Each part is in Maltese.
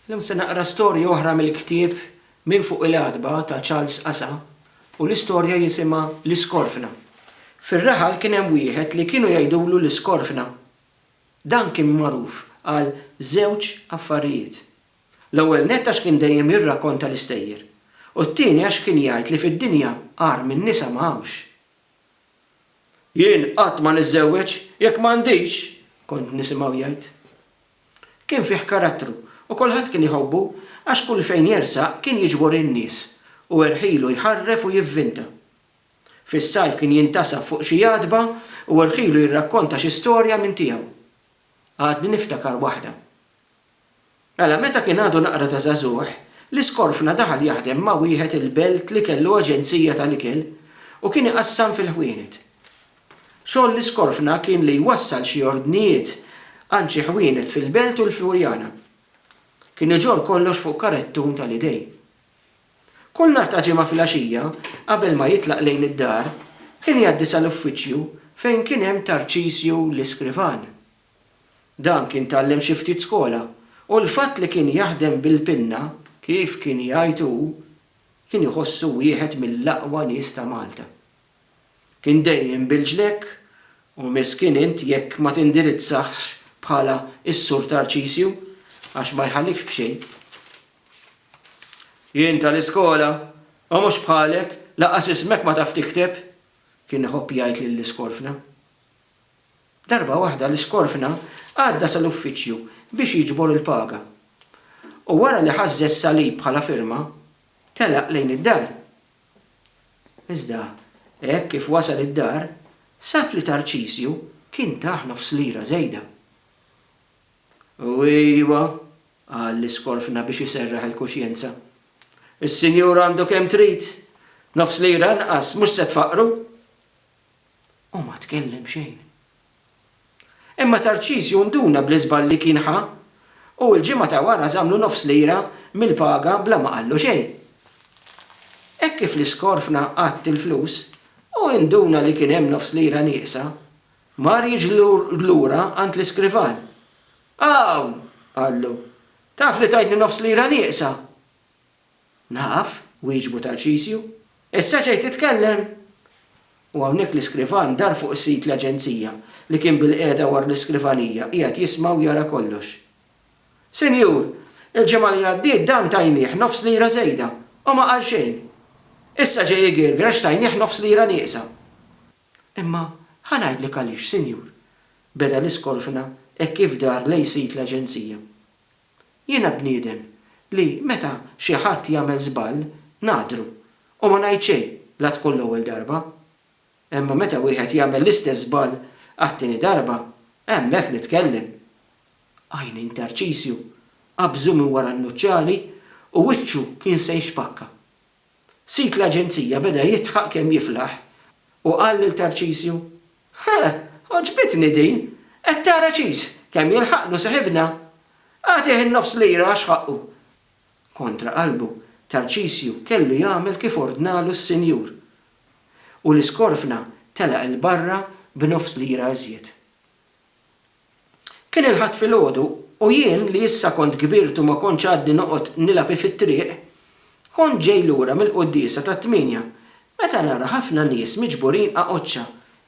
Illum se naqra storja oħra mill-ktieb Minn Fuq il-Għatba ta' Charles Qasa u l-istorja jisimha L-Iskorfna. Fir-raħal kien hemm wieħed li kienu jgħidulu l-Iskorfna. Dan kien magħruf għal żewġ affarijiet. L-ewwel nett għax kien dejjem jirrakonta l-istejjer u t-tieni għax kien jgħid li fid-dinja agħar minn nisa ma hawnx. Jien qatt ma niżżewweġ jekk m'għandix! kont nisimgħu jgħid. Kien fih karattru u kulħadd kien iħobbu għax kull fejn jersaq kien jiġbor in-nies u irħilu jħarref u jivvinta. Fis-sajf kien jintasab fuq xi għatba u irħilu jirrakkonta xi storja minn tiegħu. Għadni niftakar waħda. Mela meta kien għadu naqra ta' żagħżugħ, l-iskorfna daħal jaħdem ma' wieħed il-belt li kellu aġenzija tal-ikel u kien iqassam fil-ħwienet. Xogħol li skorfna kien li jwassal xi ordnijiet għand xi ħwienet fil-Belt u l-Furjana. Kien iġorr kollox fuq karettun tal-idej. Kull nhar ta' Ġimgħa filgħaxija, qabel ma jitlaq lejn id-dar, kien jgħaddi sal-uffiċċju fejn kien hemm Tarċisju l-iskrivan. Dan kien tgħallem xi ftit skola u l-fatt li kien jaħdem bil-pinna, kif kien jgħid hu, kien iħossu wieħed mill-aqwa nies ta' Malta. Kien dejjem bil-ġlekk u miskin int jekk ma tindirizzahx bħala s-Sur Tarċisju għax ma jħallikx b'xejn. Jien tal-iskola, u mhux bħalek, lanqas ismek ma taf tikteb, kien iħobb jgħid lill-iskorfna. Darba waħda l-iskorfna għadda sal-uffiċċju biex jiġbor il-paga. U wara li ħażżeż salib bħala firma, telaq lejn id-dar. Iżda, hekk kif wasal id-dar, sab li Tarċisju kien tah nofs lira żejda. U ejwa, qal l-iskorfna biex iserraħ il-kuxjenza, is-sinjur għandu kemm trid, b'nofs lira inqas mhux se tfaqqru! u ma tkellem xejn. Imma Tarċisju nduna bl-iżball li kien ħa u l-ġimgħa ta' wara żammlu nofs lira mill-paga bla ma qallu xejn. Hekk kif l-iskorfna għadd il-flus, hu induna li kien hemm nofs lira nieqsa. Mar jiġri lura għand l-iskrivan. Hawn! qallu. Taf li tajtni nofs lira nieqsa? Naf, wieġbu Tarċisju. Issa ġejt titkellem? U hawnhekk l-iskrivan dar fuq is-sid l-aġenzija, li kien bilqiegħda wara l-iskrivanija, qiegħed jisma' u jara kollox. Sinjur, il-ġimgħa li għaddiet dan tajnieh nofs lira żejda, u ma qal xejn. Issa ġej igirgir għax tajnieh nofs lira nieqsa. Imma ħa ngħidlek għaliex, sinjur, beda l-iskorfna hekk kif dar lejn sid l-aġenzija. Jiena bniedem li meta xi ħadd jagħmel żball ngħaddru u ma ngħid xejn la tkun l-ewwel darba. Imma meta wieħed jagħmel l-istess żball għat-tieni darba, hemmhekk nitkellem. Għajni ntarċisju qabżu minn wara n-nuċċali u wiċċu kien se jixpakka. Sid l-aġenzija beda jidħaq kemm jiflaħ u qal lil Tarċisju, Huh! Għoġbitni din! Qed tara ċis kemm jilħaqlu seħibna? Agħtih in-nofs lira għax ħaqqu! Kontra qalbu, Tarċisju kellu jagħmel kif ordnalu s-sinjur. U l-iskorfna telaq 'il barra b'nofs lira iżjed. Kien il-Ħadd filgħodu u jien li issa kont kbirt u ma kontx għadni noqgħod nilgħab fit-triq, kont ġej lura mill-quddiesa tat-tmienja meta nara ħafna nies miġburin għaqoċċa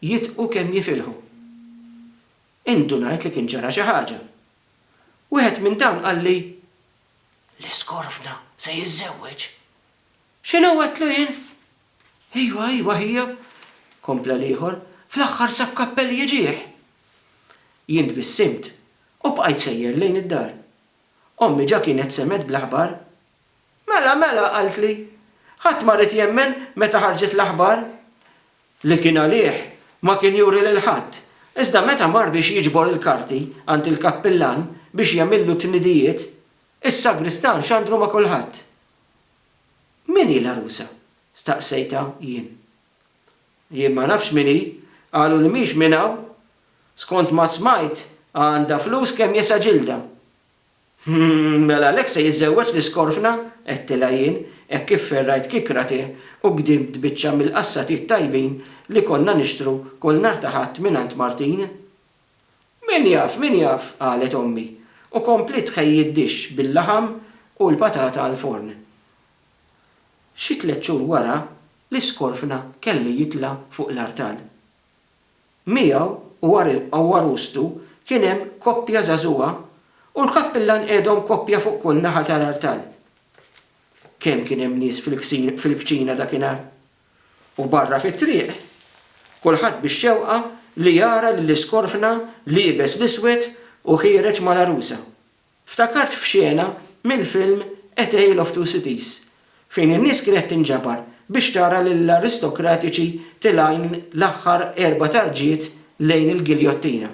jidqu kemm jifilħu. Indunajt li kien ġara xi ħaġa. Wieħed minn dawn qalli, L-Iskorfna se jiżżewweġ! X'inhu għedtlu jien? Ejwa, ejwa, ħija, kompla l-ieħor, fl-aħħar sab kappell jiġih! Jien tbissimt u bqajt sejjer lejn id-dar. Ommi ġa kienet semgħet bl-aħbar. Mela, mela, qaltli, ħadd ma ried jemmen meta ħarġet l-aħbar li kien għalih ma kien juri lil ħadd, iżda meta mar biex jiġbor il-karti għand il-kappillan biex jagħmillu t-tnidijiet, is-sagristan xandru ma' kulħadd. Min hi l-għarusa? staqsejtha jien. Jien ma nafx min hi, qalu li mhix minn hawn. Skont ma smajt għandha flus kemm jesa' ġildha. Hm, mela għalhekk se jiżżewweġ l-iskorfna? għedtilha jien hekk kif ferrajt kikra te u gdimt biċċa mill-qassatiet tajbin li konna nixtru kull nhar ta' Ħadd mingħand Martin. Min jaf, min jaf, qalet ommi, u kompliet tħejji d-dixx bil-laħam u l-patata għall-forn. Xi tliet xhur wara, l-iskorfna kellu jitla' fuq l-artal. Miegħu u għarustu kien hemm koppja żagħżugħa u l-kappillan qiegħdhom koppja fuq kull naħa tal-artal. Kemm kien hemm nies fil-kċina dakinhar! u barra fit-triq, kulħadd bix-xewqa li jara lill-iskorfna liebes l-iswed u ħiereġ mal-għarusa. Ftakart f'xena mill-film A Tale of Two Cities, fejn in-nies kienet tinġabar biex tara lill-aristokratiċi tilgħin l-aħħar erba' tarġiet lejn il-giljottina.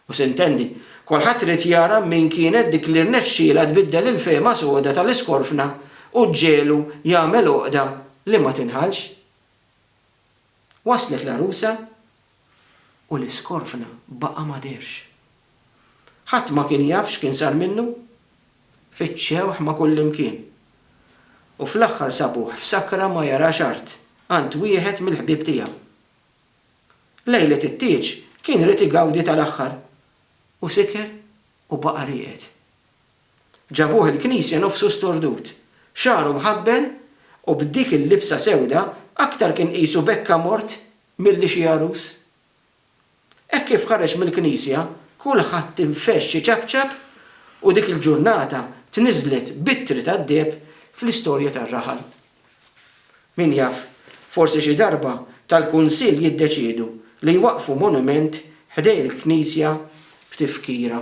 U sintendi, kulħadd ried jara min kienet dik li rnexxielha tbiddel il-fehma soda tal-iskorfna u ġġiegħlu jagħmel għoqda li ma tinħallx. Waslet l-għarusa u l-iskorfna baqa' ma dehrx. Ħadd ma kien jaf x'kien sar minnu. Fittxewh ma' kullimkien. U fl-aħħar sabuh f'sakra ma jarax art, għand wieħed mill-ħbieb tiegħu. Lejlet it-tieġ kien irid igawdi tal-aħħar u siker u baqa' rieqed. Ġabuh il-knisja nofsu stordut, xagħru mħabbel u b'dik il-libsa sewda aktar kien qisu bekka mort milli xi għarus. Hekk kif ħareġ mill-knisja kulħadd infexx iċapċap u dik il-ġurnata tniżżlet b'ittri tad-deheb fl-istorja tar-raħal. Min jaf, forsi xi darba tal-Kunsill jiddeċiedu li jwaqqfu monument ħdejn il-knisja f'tifkira.